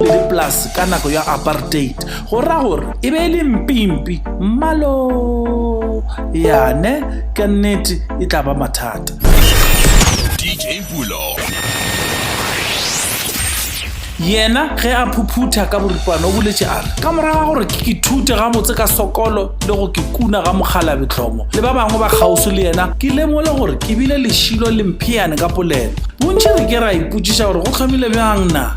Le le polase ka nako ya apartheid, go ra gore e be e le mpimpi, mmalo yane ka nnete e tla ba mathata. DJ Pulo. Yena ge a phuphutha ka boripana o boletše a re, ka morago ga gore ke ke thute gabotse ka sokolo le go ke kuna ga mokgalabe tlhomo le ba bangwe ba kgauswi le yena, ke lemole gore ke bile lešilo le mpheane ka polelo. Bontši re ke ra ipotšiša gore go hlomile bjang na?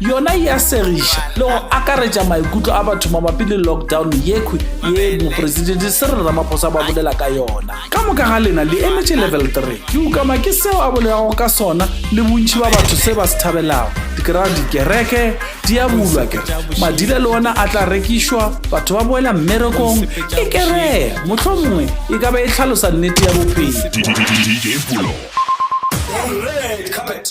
yona e a segiša le go akaretša maikutlo a batho mabapi le lockdown yekhwi ye mopresidente se re ramaphosa ba bolela ka yona ka moka ga lena le emetše level 3 ke ukama ke seo a bolelago ka sona le bontšhi ba batho se ba se thabelago dikera dikereke di a bulwa ke madile le ona a tla rekišwa batho ba boela mmerekong e keree motlho mongwe e ka ba e tlhalosa nnete ya bophelo Red carpet.